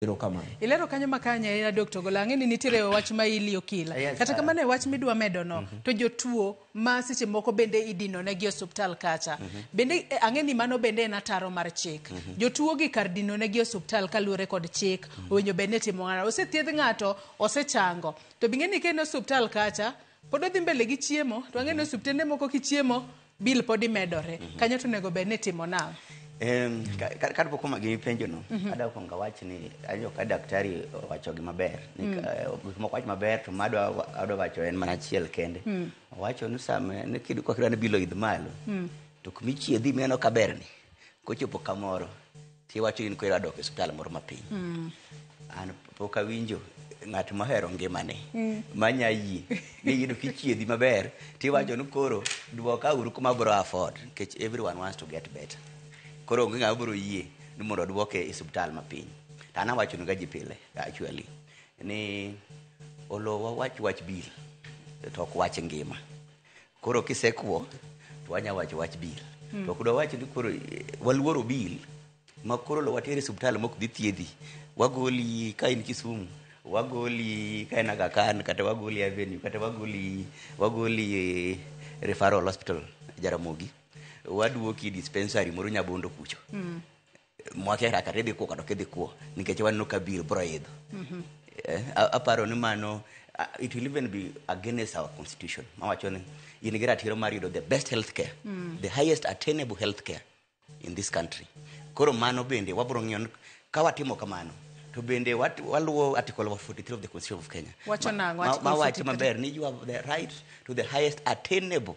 Erokamano. Ilero kanyo ma kanye ahinya dok to gola. Ang'e ni nitiere wach ma ili okila. Yes, Kata madam. kamano e wach midwa medo no to jotuo ma seche moko bende idino ne gi osiptal kacha. Bende eh, ang'e ni mano bende en ataro mar chik. Jotuo gi kar dino ne gi osiptal kaluwore kod chik owinjo bed ni timo ng'ano. Osethiedh ng'ato osechango. To bing'e ni ka en e osiptal kacha pod odhi mbele gi chiemo to ang'e ni osiptende moko kichiemo Bill podi medore. Mm -hmm. Kanyo to onego bed ni timo nang'? Um, kar pok omagi gi penjo no, mm -hmm. ada kuongo awach ni ajo ka daktari owacho gima ber. Ni mm. uh, gik moko wach maber to ma adwa adwa wacho en mana achiel kende. Mm. Owacho ni sama ne kidu kwa kidwa ni bilo idh malo. Mm. To kumichiedhi meno kaberni. Kochopo kamoro. Kiwacho in kwero adok e osiptal moro mapiny. An pok awinjo ng'at mohero ngimane manya yie ni iyudo kichiedhi maber tiwacho ni koro dwoka uru kuma abro afford nikech everyone wants to get better. Koro onge ng'ama biro yie ni mondo odwoke e osiptal mapiny. To an awachonuga ji pile actually ni olo wawach wach bill to ok wach ngima. Koro kisekwo to wanya wacho wach bil. To ok dwawach ni koro eh, waluoro bil ma koro lo watere subtal mok dhi thiedhi. Wagoli ka in Kisumu, wagoli ka in Aga Khan kata wagoli Avenue kata wagoli wagoli eh, referral hospital Jaramogi. Waduoki dispensary moro Nyabondo kucho. mwakia kaka idhi kuo kata ok idhi kuo nikech waneno ka biro bro idho Eh, a- aparo ni mano uh, it will even be against our constitution mawacho ni in gi ratiro mar yudo the best health care the highest attainable health care in this country koro mano bende wabro ng'iyo ni ka watimo kamano to bende wat- waluwo article 43 of the constitution of kenya Wacho nang'o, Ma- ma- Article mawacho 43? maber ni you have the right to the highest attainable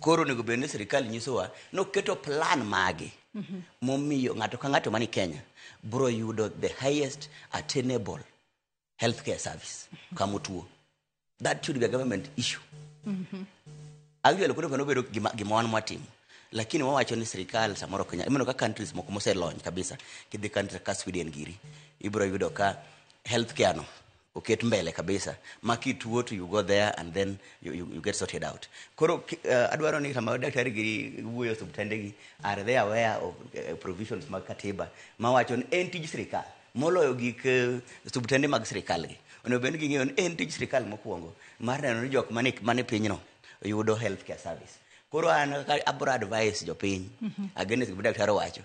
Koro onego bed ni sirkal nyisowa ni oketo plan mage mhm. momiyo ng'ato ka ng'ato mani Kenya bro yudo the highest attainable healthcare service mhm. kama otuo. That should be a government issue. Mhm. Actually, kuno panobedo gima wan mwatimo lakini wawacho ni sirikal samoro kenya imeno ka countries moko moselony kabisa kidhi country ka sweden giri ibro yudo ka healthcare no oket mbele kabisa ma kituo to you go there and then you, you, you get sorted out koro uh, adwaro ni sama daktari gi wuoyo osuptende gi are they aware of uh, provisions mag katiba ma wacho ni en tij sirikal moloyo gik uh, suptende mag sirikal gi onego bed ni ging'eyo ni en tij sirikal mokwongo mar neno ni jok mane mane pinyno yudo health care service koro an abro advice jopiny against gima daktari owacho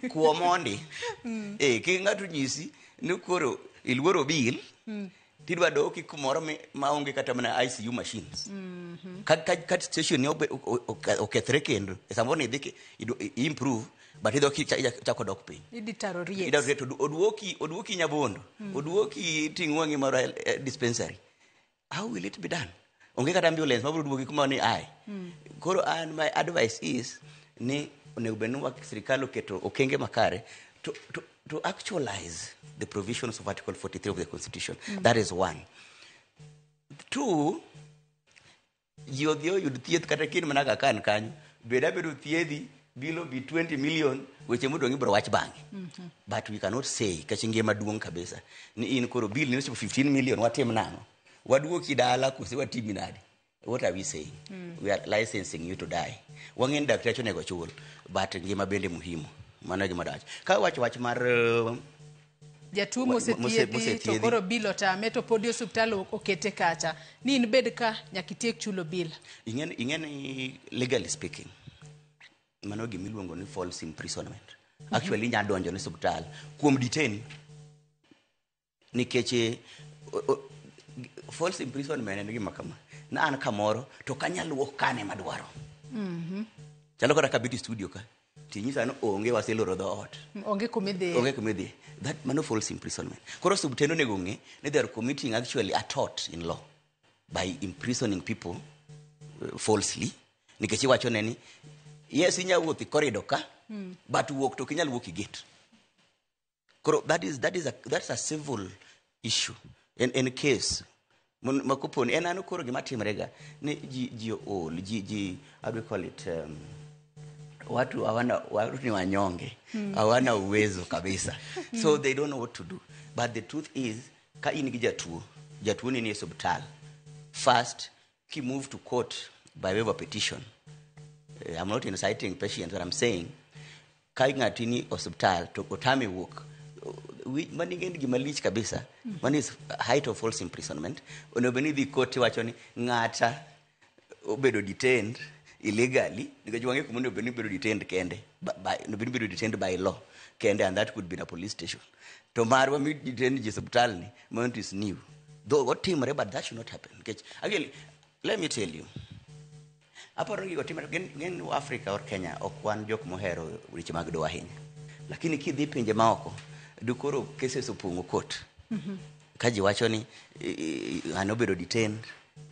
kuo mondi mm. e ki ng'ato nyisi ni koro iluoro bil mm. tidwa doki kumoro maonge kata mana ICU machines mm -hmm. ka, ka, ka station ni okethre kendo e samoro ni idhi improve but idho kichako dok piny oduoki oduoki nyabondo mm. oduoki ting'wang'i moro eh, dispensary how will it be done onge kata ambulance mabiro duogi kuma ni ai koro an my advice is ni onego bed ni wa- sirikal oketo okenge makare to, to, to actualize the provisions of article 43 of the constitution that is one two ji odhi oyud thieth kata kin mana kaka an kanyo bed abedo thiedhi Bilo bi 20 million weche modong' ibro wach bang'e. But we cannot say kech ngima duong' kabisa. Ni in koro bill ni ochopo 15 million watim nang'o? Waduoki dala kose watimi nade? What are we saying? We are licensing you to die. Wang'e ni dakteche onego chul but ngima bende muhimu. Mano e gima dawacho. Ka wacho wach mar uh, jatuo Wa- mose- mosethiedhi to mosethiedhi. koro bil otame to podi osiptal o- okete kacha ni in bed ka nyaka itiek chulo bil ing'e ni- ing'e ni legally speaking mano gima iluongo ni false imprisonment actually inya donjo ni suptal kuom detain nikech eh, o- o- g- false imprisonment en gima kama na an kamoro to kanyal wuok kane madwaro chalo kata kabit studio ka Tinyisa ni onge waseloro dhoot. Onge kuma idhiye. Onge kuma idhiye. That mano false imprisonment. Koro subtendo onego ong'e ni they are committing actually a tort in law by imprisoning people uh, falsely nikech iwacho ne ni yes inya wuoth e corridor ka mm. but wuok to ok inyal wuok e gate. koro that is, that is a, that's a civil issue en, en case Mon- ma koponi en ano koro gima timrega ni ji ji ool ji ji how do we call it um, watu hawana watu ni wanyonge hawana uwezo kabisa so they don't know what to do but the truth is ka in gi jatuo jatuo ni ni e subtal first He moved to court by way of a petition. Eh, I'm not inciting patients, but I'm saying, kai ngatini hospital to otami work. Mani gin gima lich kabisa. Mani is height of false imprisonment. Onego bed ni dhi court iwacho ni ng'ata obedo detained illegally nikech wang'e kuma onego bed ni bedo detained kende. By, by, onego bed ni bedo detained by law kende and that could be in a police station. to marwa miditend ji subtal ni mount is new though otimre but that should not happen nikech again let me tell you aparo gigo timre gen, gen africa or kenya ok wan jok mohero weche mag doa ahinya lakini kidhi pinje maoko dukoro cases opong'o kot ka ji wacho ni i- i- ng'ano obedo detained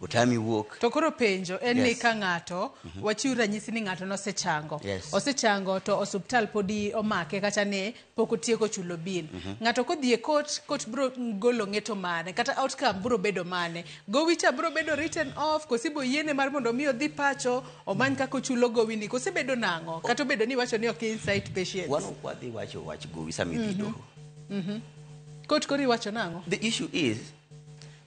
Otami wuok. To koro penjo en ni Yes. ka ng'ato wachiw ranyisi ni ng'ato nosechango. Yes. Osechango to osuptal podi omake kata ne pok otieko chulo bil. Ng'ato kodhi e court, court bro golo ng'eto mane kata outcome bro bedo mane. Gowi cha bro bedo written off kosi bo yiene mar mondo mi odhi pacho omany kaka ochulo gowi ni kose bedo nang'o kata obedo ni wacho ni ok insight patients. Wan ok wadhi wacho wach gowi sama idhi doho. Court koro iwacho nang'o? The issue is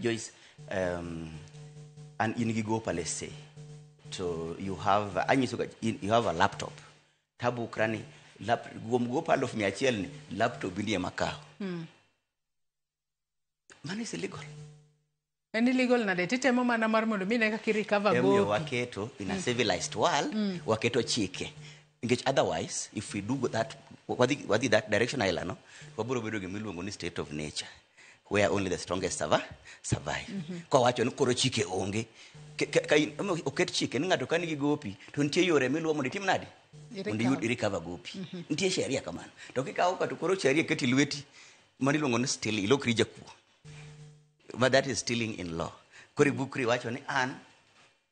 Joyce, um, an in gi gopa let's say to you have anyiso ga in- you have a laptop tabu krani lap, kuom gopa aluf mia achiel ni laptop ni ema kawo mano is illegal en illegal nade titemo mana mar mondo mi ne kaka irecover emomiyo gopi waketo in a civilized world waketo chike Nikech otherwise if we do that wadhi wadhi that direction aila no wabiro bedo gima iluongo ni state of nature where only the strongest survive. survive. Mm -hmm. Kwa wacho ni koro chike onge Ke- ke- ka in- omo- oket chike ni ng'ato ka nigi gopi to nitie yore miluwo mondo itim nadi Iri mondo iyud cover. irikava gopi nitie sheria kamano to kikawo ka to koro sheria keti lweti mano iluongo ni still ilokri jakuo but that is stealing in law koro ibukri iwacho ni an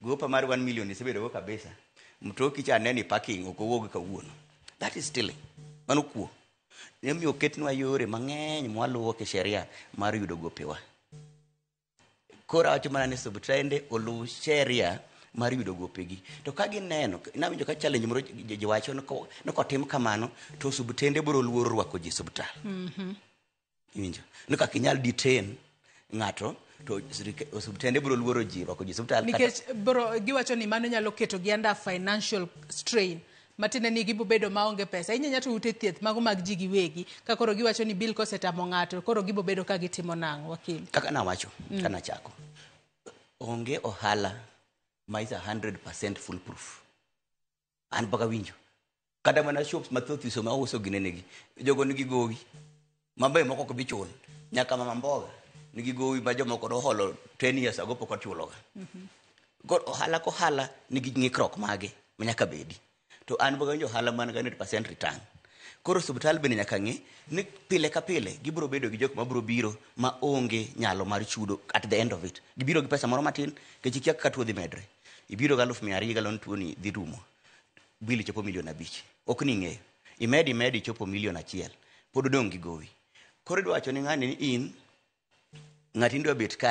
Gopa mar 1 million isebedo go kabisa. Mtoki cha neni parking ok owuog kawuono. That is stealing. Mano kuo. Nemiyo oketnwa yore mang'eny mwaluwo kisheria mar yudo gopewa. Koro awacho mana ni subtrende oluw sheria mar yudo gopegi to ka gineno nawinjo ka challenge moro ji- ji- jiwacho ni ko- ni kotim kamano to subtende biro luoro rwako ji subtal Iwinjo? Ni kaka inyal detain ng'ato to sirike- osiptende biro luoro ji rwako ji osiptal. kata- nikech bro giwacho ni mano nyalo keto gi under financial strain matiende ni gibo bedo maonge pesa inyanya to ute thieth mago mag ji giwegi ka koro giwacho ni bil kosetamo ng'ato koro gibo bedo ka gitimo nang'o wakili kaka nawacho Mm. ka nachako onge ohala ma is a 100 full proof an paka winjo kata mana shops mathoth iso ma uso ginenegi jogo nigi gowi mabe moko ok bi chul nyaka mama mboga nigi gowi ma jomoko noholo 10 years ago pok ochuloga koro ohala kohala nigi ng'ikruok mage ma nyaka bedi to an paka winjo ohala man ga 100% return koro osiptal bende nyaka ng'e ni pile ka pile gibiro bedo gi jok ma biro biro ma onge nyalo mar chudo at the end of it gibiro gi pesa moro matin kech ikia kaka tuo dhi medre Ibiro gi aluf mia ariyo galon tuoni dhi rumo. Bill chopo milion abich. Ok ni ng'eyo. Imed imed ichopo milion achiel. Pod odong' gi gowi. Koro idwa wacho ni ng'ani ni in ng'ati ni dwa bet kae.